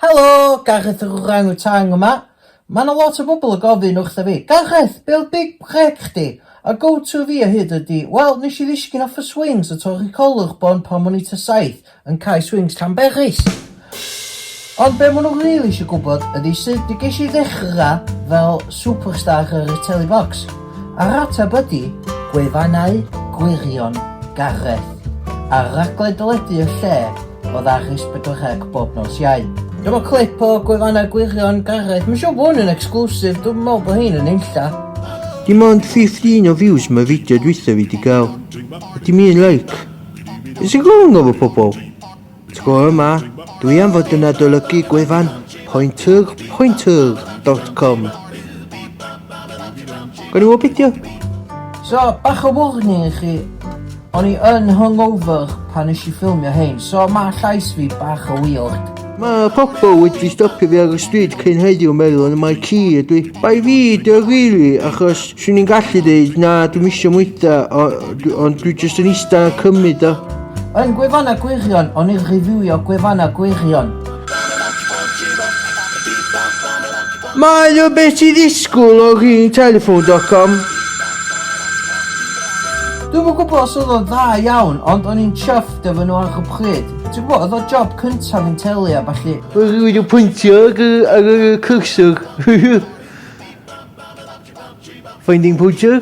Helo! Gareth yr Orang Utang yma. Mae yna lot o bobl yn gofyn wrtha fi, Gareth, be oedd big break chdi? A go to fi o hyd ydi, wel, nes i ddisgyn off y swings a torri collwr bon pan o'n i tua saith yn cau swings Llanberis. Ond be maen nhw rili eisiau gwybod ydi sut y ges i ddechrau fel superstar ar y Telly Box. A'r ateb ydi, gwefannau gwirion Gareth. Ar raglen deledu y lle, o ddagris pedwar rhag bob nos Iau. Dyma clip o gwefannau gwirion Gareth. Mae'n siŵr bod hwn yn exclusive, dwi'n meddwl bod hyn yn unlla. Dim ond 15 o views mae fideo dwytha fi di gael. A dim un like. Is y golwng efo pobl? Tro yma, dwi am fod yn adolygu gwefan Pointug, pointug, dot com. Gwni o bidio? So, bach o warning i chi. O'n i yn hungover pan eisiau ffilmio hyn, so mae llais fi bach o weird. Mae pobl wedi stopio fi ar y stryd cyn heddiw meddwl yn y mae ci ydw i. Bai fi dy rili, achos swn i'n gallu dweud na dwi'n misio mwyta, ond dwi jyst yn eista a cymryd o. Yn gwefannau gwirion, o'n i'n reviewio gwefannau gwirion. Mae o beth i ddisgwyl o rin telefon.com. Dwi'n yn gwybod os oedd o'n dda iawn, ond o'n i'n chuffed efo nhw ar y pryd. Ti'n gwybod, oedd o job cyntaf yn teli a falle. Oedd rhywun yn pwyntio ar y cursor. Finding pwyntiau?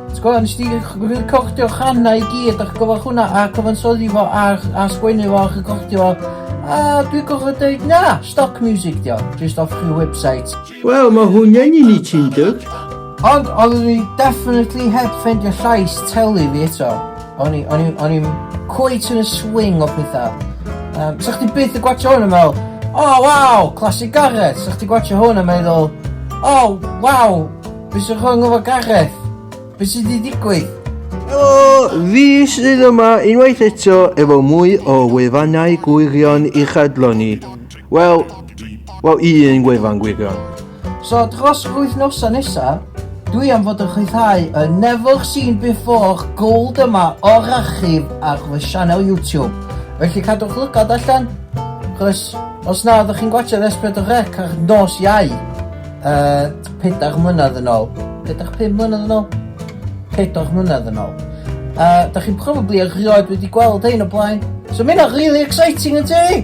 Ti'n gwybod, nes di recordio channau i gyd a'ch gyfach hwnna a cyfansoddi fo a, a sgwennu fo a'ch recordio fo. A dwi'n gorfod dweud na, stock music dio, just off chi website. Wel, mae hwnna'n un i ti'n dod. Ond oedd ni definitely heb ffendio llais teli fi eto. O'n i'n cweit yn y swing o pethau. Um, Sa chdi byth y gwachio hwn yn meddwl, oh wow, classic Gareth. Sa chdi gwachio hwn yn meddwl, oh wow, Be sy'n wrong efo Gareth? Be sydd wedi digwydd? Helo, fi sydd yma unwaith eto efo mwy o wefannau gwirion i chadlo ni. Wel, wel un gwefan gwirion. So dros yr wythnosa nesa, dwi am fod yn chwythau y Never Seen Before Gold yma o'r archif ar fy sianel YouTube. Felly cadwch lygad allan, chos os na, ydych chi'n gwachio S4 Rec ar nos iau. Uh, Pedair mlynedd yn ôl. Pedair, pum mlynedd yn ôl? Pedair mlynedd yn ôl. A uh, da chi'n probably erioed wedi gweld ein o blaen. So mae'n really exciting yn ti!